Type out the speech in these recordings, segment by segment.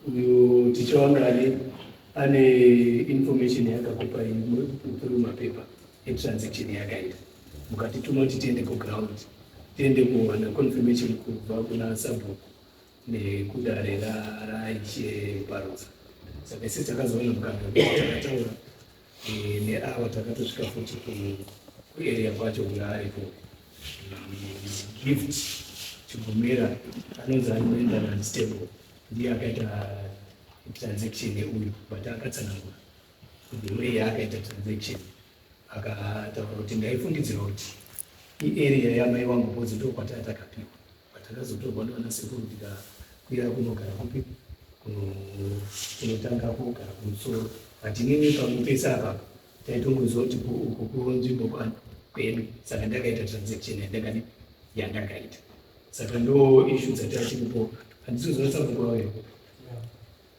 uyu ticha wanga ane ane information yakakupa through mapepa etransaction yakaita mukatituma kuti tiende kuground tiende kuwana confirmation kubva kuna sabhuku nekudare raiche parosa saka isi takazoona mukana takataura Eh, neawa takatosvika futi kuarea kwacho kunga ariko gift chigomera anonzi anoenda nanstable ndiye akaita transaction neuyu but akatsanangura the way yaakaita transaction akataura kuti ndaifungidzira kuti iarea yamai wangu kozi ndokwataa takapiwa Patakazotorwa nana sekuru tikakwira kunogara kupi kunotanga kugara kumusoro but inini pamwe pese apa taitongoziva kuti uko kunzvimbo kwani kwedu saka ndakaita transaction yandakani yandakaita saka ndo ishu dzatati kupo handisi kuzonatsa kukuvawepo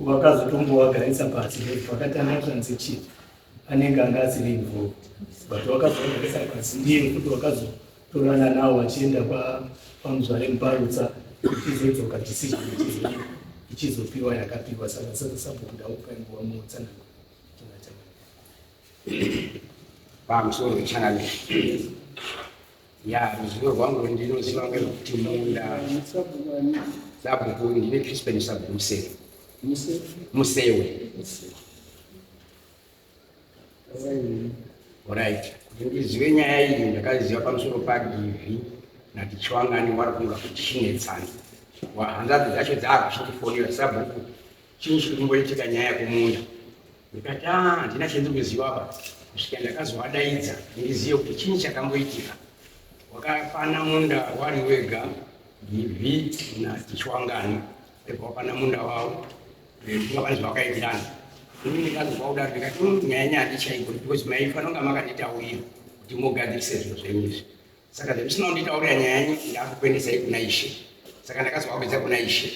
vakazotombovagarisa pasi vakatanga transaction anenge anga asiri involved but wakazovagarisa pasi ndiye kuti wakazotorana nawo vachienda kwamuzvare muparutsa ichizodzoka decision ichizopiwa yakapiwa saka saka sabokuda kupa nguva muutsanana pamusoro wechangamire ya ruzivo rwangu rwendinoziva ngerwekuti munda sabhuku ndine chispen sabhuku musewe musewe orit kuti ndizive nyaya iyi ndakaziva pamusoro padivi natichwangani wari kunga kuchinetsana wahanzadzi dzacho dzaakuchitifonera sabhuku Chinyi chiri kumboitika nyaya kumunda? Ndikati ah, handina chendiri kuziva apa kusvika ndakazovadaidza ndizive kuti chinyi chakamboitika. Wakapana munda wari wega Givhi naChiwangani pebva wapana munda wavo vavana zvavakaitirana ini ndikazova kuda ndikati nyaya nyaya ndichaiko because maifanira kunge makanditaurira kuti mugadzirise zvinhu zvenyu izvi saka zvemusina kunditaurira nyaya yanyu ndakukuendesai kuna ishe saka ndakazovakwidza kuna ishe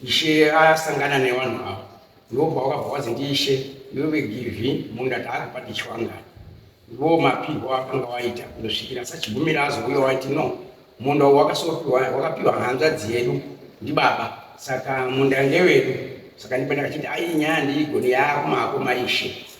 ishe asangana nevanhu avo ndobva wakabva wazi ndiishe iwe vegivhi munda taakupa tichwanga ndiwo mapihwa akanga waita kundosvikira sachigumira azouya waiti no munda uwo wakasopiwa wakapiwa hanzvadzi yedu ndibaba saka munda ngewedu saka ndipo ndakachiti ai nyaya ndiigoni yaakumako maishe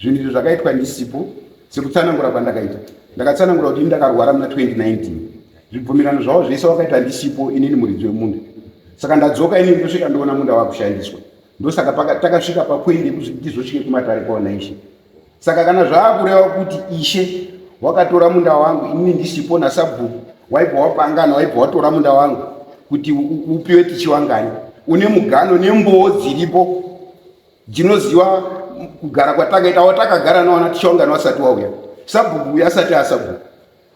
zvinhu izvo zvakaitwa ndisipo sekutsanangura kwandakaita ndakatsanangura kuti ini ndakarwara muna 2019 zvibvumirano zvavo zvese wakaita ndisipo inini muridzi wemunda saka ndadzoka inini ndosvika ndoona munda wakushandiswa ndosaka takasvika papoindi yekuti ndizvosvike kumatare kwaona ishe Saka kana zvaakureva kuti ishe wakatora munda wangu inini ndisipo nasabhuku waibva wapangana waibva watora munda wangu kuti upiwe tichiwangani une mugano nembowo dziripo dzinoziva kugara kwatakaita watakagara nawana tichiwangani wasati wauya sabhuku uya asati asabhuku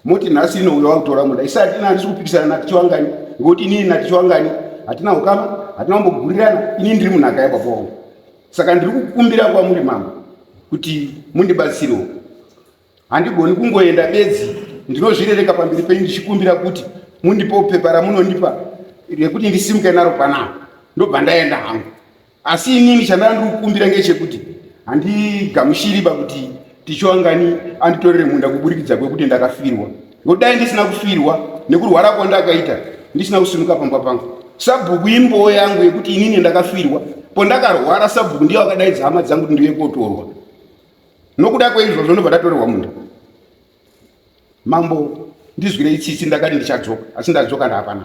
moti nhasi inouya wakutora muda isi hatina handisi kupikisana natichiwangani ngokuti inini natichiwangani hatina ukama hatina kumbogurirana inini ndiri munhaka yababa wangu saka ndiri kukumbira kwamuri mama kuti mundibatsirewo handigoni kungoenda bedzi ndinozvirereka pamberi penyu ndichikumbira kuti mundipewo pepa ramunondipa rekuti ndisimuke naro panaa ndobva ndaenda hangu asi inini chandanga ndiri kukumbira ngechekuti handigamushiriba kuti tichiwangani anditorere munda kuburikidza kwekuti ndakafirwa ngokuti dai ndisina kufirwa nekurwara kwandakaita ndisina kusimuka pamba pangu sabhuku imbowo yangu yekuti inini ndakafirwa pondakarwara sabhuku ndiyo akadaidza hama dzangu kuti ndive kotorwa nokuda kweizvozvo ndobva ndatorerwa munda mambo ndizwirei tsitsi ndakati ndichadzoka asi ndadzoka ndaapana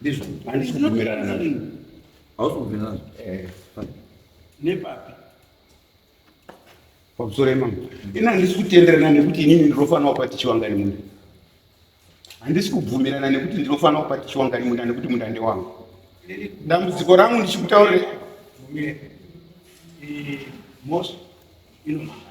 Ndizvo. Handisi kubvumirana nazvo. Hausi kubvumirana nazvo. Eh. Nepapi? Pamusoro imama. Ini handisi kutenderana nekuti inini ndinofanira kupa tichiwangani munda. Handisi kubvumirana nekuti ndinofanira kupa tichiwangani munda nekuti munda ndewangu. Dambudziko rangu ndichikutaurira. Mosha. Inomanga.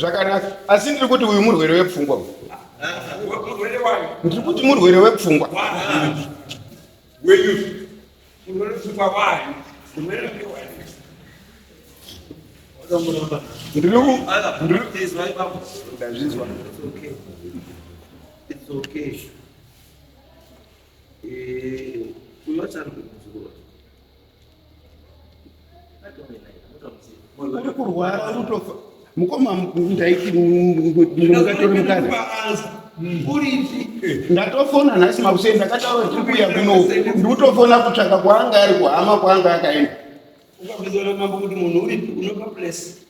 zvakanaka asi ndiri kuti uyu murwere wepfungwa uyu ndiri kuti murwere wepfungwa ndazvinzwa uri kurwara unotofa mukoma ndaiti mungatore mukadzi ndatofona nhasi makuseni ndakataura tiri kuuya kuno ndikutofona kutsvaka kwaanga ari kuhama kwaanga akaenda